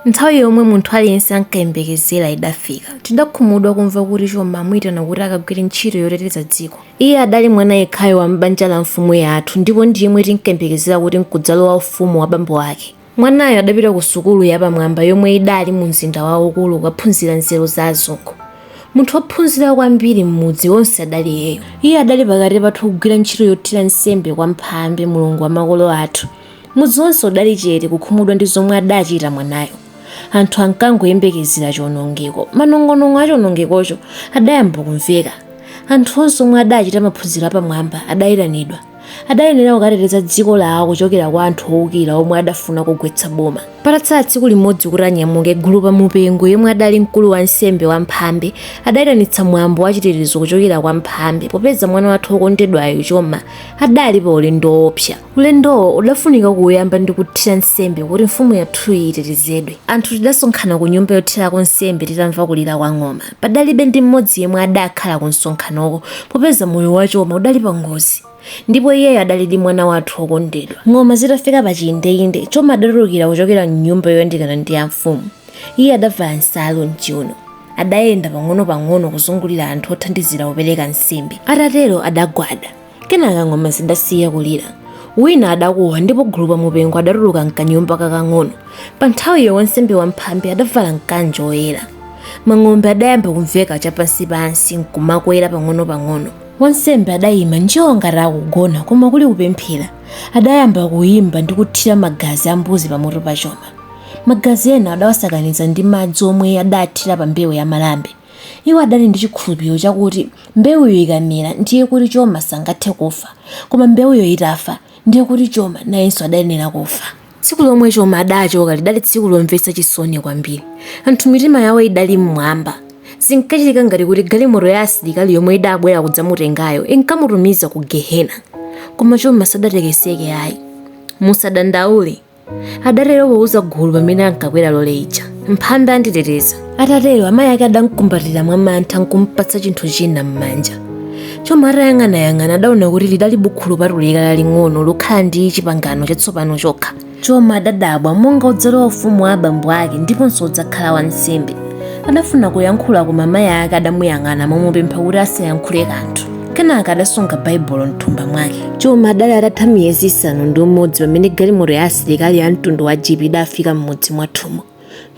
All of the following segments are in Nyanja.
Nthawi yomwe munthu aliyense ankayembekezera idafika. Tidakhumudwa kumva kuti Choma amuitana kuti akagwire ntchito yoteteza dziko. Iye adali mwana yekhayo wa m'banja la mfumu yathu ndipo ndi yemwe tinkayembekezera kuti n'kudzalowa ufumu wa bambo ake. Mwanayo adapita kusukulu yapamwamba yomwe idali mumzinda waukulu kukaphunzira nzeru za azungu. Munthu wophunzira kwambiri m'mudzi wonse adali iyeyo. Iye adali pakati pathu kugwira ntchito yothira nsembe kwa Mphambe, mulungu wa makolo athu. Mudzi wonse udali chete kukhumudwa ndi zomwe adachita mwanayo. Anthu ankangoyembekezera chionongeko. Manong'onong'o a chionongekocho adayamba kumveka. Anthu onse omwe adachita maphunziro apamwamba adaitanidwa. Adayenera kukateteza dziko lawo kuchokera kwa anthu oukira omwe adafuna kugwetsa boma. Patatsala tsiku limodzi kuti anyamuke, Gulupa Mupengo, yemwe adali mkulu wansembe wa Mphambe, adaitanitsa mwambo wa chitetezo kuchokera kwa Mphambe popeza mwana wathu wokondedwayu, Choma, adali paulendo woopsa. Ulendowo udafunika kuuyamba ndi kuthira nsembe kuti mfumu yathuyi itetezedwe. Anthu tidasonkhana ku nyumba yothirako nsembe titamva kulira kwa ng'oma. Padalibe ndi mmodzi yemwe adakhala ku msonkhanoko popeza moyo wa Choma udali pa ngozi. Ndipo iyeyo adalidi mwana wathu wokondedwa. Ng'oma zitafika pa chiindeinde, Choma adatulukira kuchokera m'nyumba yoyandikana ndi ya mfumu. Iye adavala nsalu m'chiwuno. Adayenda pang'onopang'ono kuzungulira anthu othandizira kupereka nsembe. Atatero adagwada. kenaka ng'oma zidasiya kulira wina adakuwa ndipo gulupa mupengo adatuluka mkanyumba kakang'ono pa nthawiyo wansembe wa mphambe adavala mkanjo woyera mang'ombe adayamba kumveka chapansipansi nkumakwera pang'ono-pang'ono wansembe adayima njii ngati akugona koma kuli kupemphera adayamba kuyimba ndi kuthira magazi a mbuzi pamutu pa choma magazi ena adawasakaniza ndi madzi omwe adathira pa mbewu ya malambe Iwo adali ndi chikhulupiliro chakuti mbewuyo ikamera ndiye kuti Choma sangathe kufa, koma mbewuyo itafa ndiye kuti Choma nayenso adayenera kufa. Tsiku lomwe Choma adachoka lidali tsiku lomvetsa chisoni kwambiri. Anthu mitima yawo idali m'mwamba. Zinkachitika ngati kuti galimoto ya asilikali yomwe idabwera kudzamutengayo inkamutumiza ku Gehena. Koma Choma sadatekeseke ayi. Musadandaule. adatero pouza gulu pamene ankakwera lole ija mphambe anditeteza atatero amayi ake adamkumbatira mwa mantha nkumpatsa chinthu china m'manja choma atayang'anayang'ana adaona kuti lidali bukhu lopatulika laling'ono lokhala ndi chipangano chatsopano chokha choma adadabwa monga wodzalowa ufumu wa abambo ake ndiponso wodzakhala wansembe adafuna kuyankhula koma mayi ake adamuyang'ana momupempha kuti asayankhule kanthu kenaka adasunga baibulo mthumba mwake choma adali atatha miyezi isanu ndi umodzi pamene galimoto ya asilikali ya mtundu wa jipi idafika m'mudzi mwathu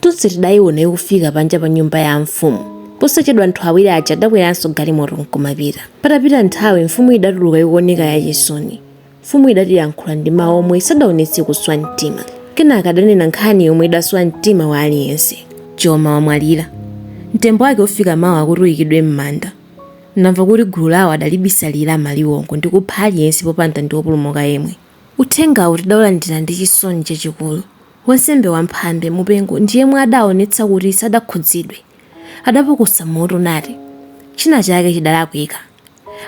tonse tidayiona ikufika panja pa nyumba ya mfumu posachedwa anthu awiri aja adakweranso galimoto nkumapita patapita nthawi mfumu idatuluka ikuoneka yachisoni mfumu idatiyankhula ndi mawu omwe sadaonetse kuswa mtima kenaka adanena nkhani yomwe idaswa mtima wa aliyense choma wamwalira mtembo wake ufika mawa kuti uyikidwe m'manda Adamva kuti gulu lawo adalibisalira maliwongo ndi kupha aliyense popanda ndi wopulumuka yemwe. Uthengawu tidaulandira ndi chisoni chachikulu. Wansembe wa Mphambe, Mupengo, ndi yemwe adaonetsa kuti sadakhudzidwe. Adapukusa mutu nati, China chake chidalakwika.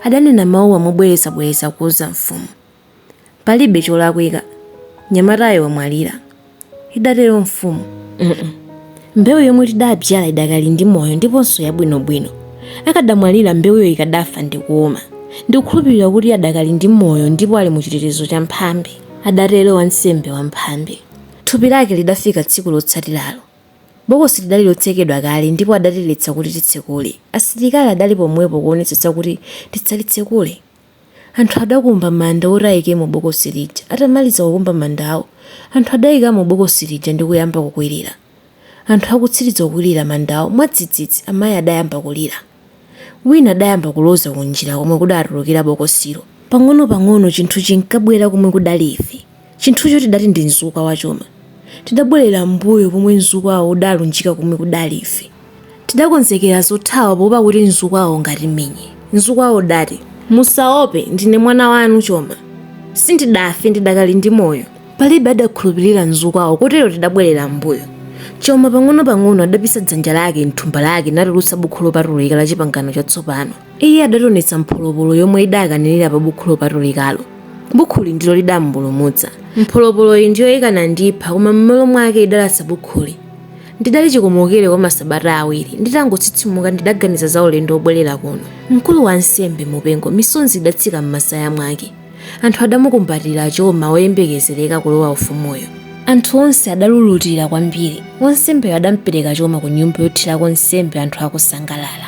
Adanena mawuwa mobwerezabwereza kuuza mfumu. Palibe cholakwika, mnyamatayo wamwalira, idatero mfumu. Mm-mm. Mbewu yomwe tidabzyala idakali ndi moyo ndiponso yabwinobwino. Akadamwalira mbewuyo ikadafa ndi kuuma. Ndikukhulupirira kuti adakali ndi moyo ndipo ali mu chitetezo cha Mphambe, adatero wansembe wa Mphambe. Thupi lake lidafika tsiku lotsatiralo. Bokosi lidali lotsekedwa kale ndipo adatiletsa kuti tisalitsekule. Asilikali adali pomwepo kuonetsetsa kuti tisalitsekule. Anthu adakumba manda oti aikemo bokosi lija. Atamaliza kukumba mandawo, anthu adaikamo bokosi lija ndi kuyamba kukwirira. Anthu akutsiriza kukwirira mandawo, mwadzidzidzi amayi adayamba kulira. Wina adayamba kuloza kunjira komwe kudatulukira bokosilo. Pang'onopang'ono chinthu chinkabwera komwe kudali ife. Chinthucho tidati ndi mzukwa wa Choma. Tidabwerera m'mbuyo pomwe mzukwawo udalunjika komwe kudali ife. Tidakonzekera zothawa poopa kuti mzukwawo ungatimenye. Mzukwawo udati, Musaope, ndine mwana wanu, Choma. Sindidafe, ndidakali ndi moyo. Palibe adakhulupirira mzukwawo kotero tidabwerera m'mbuyo. Choma pang'onopang'ono adapisa dzanja lake m'thumba lake natulutsa Bukhu Lopatulika la Chipangano Chatsopano. Iye adationetsa mpholopolo yomwe idakanirira pa Bukhu Lopatulikalo. Bukhuli ndilo lidamupulumutsa. Mpholopoloyi ndiyo ikanandipha, koma m'malo mwake idalasa bukhuli. Ndidali chikomokere kwa masabata awiri. Nditangotsitsimuka ndidaganiza za ulendo wobwerera kuno. Mkulu wa ansembe Mupengo misonzi idatsika m'masaya mwake. Anthu adamukumbatira Choma woyembekezereka kulowa ufumuyo. Anthu onse adalulutira kwambiri. Wansembeyo adamupereka Choma kunyumba yothirako nsembe anthu akusangalala.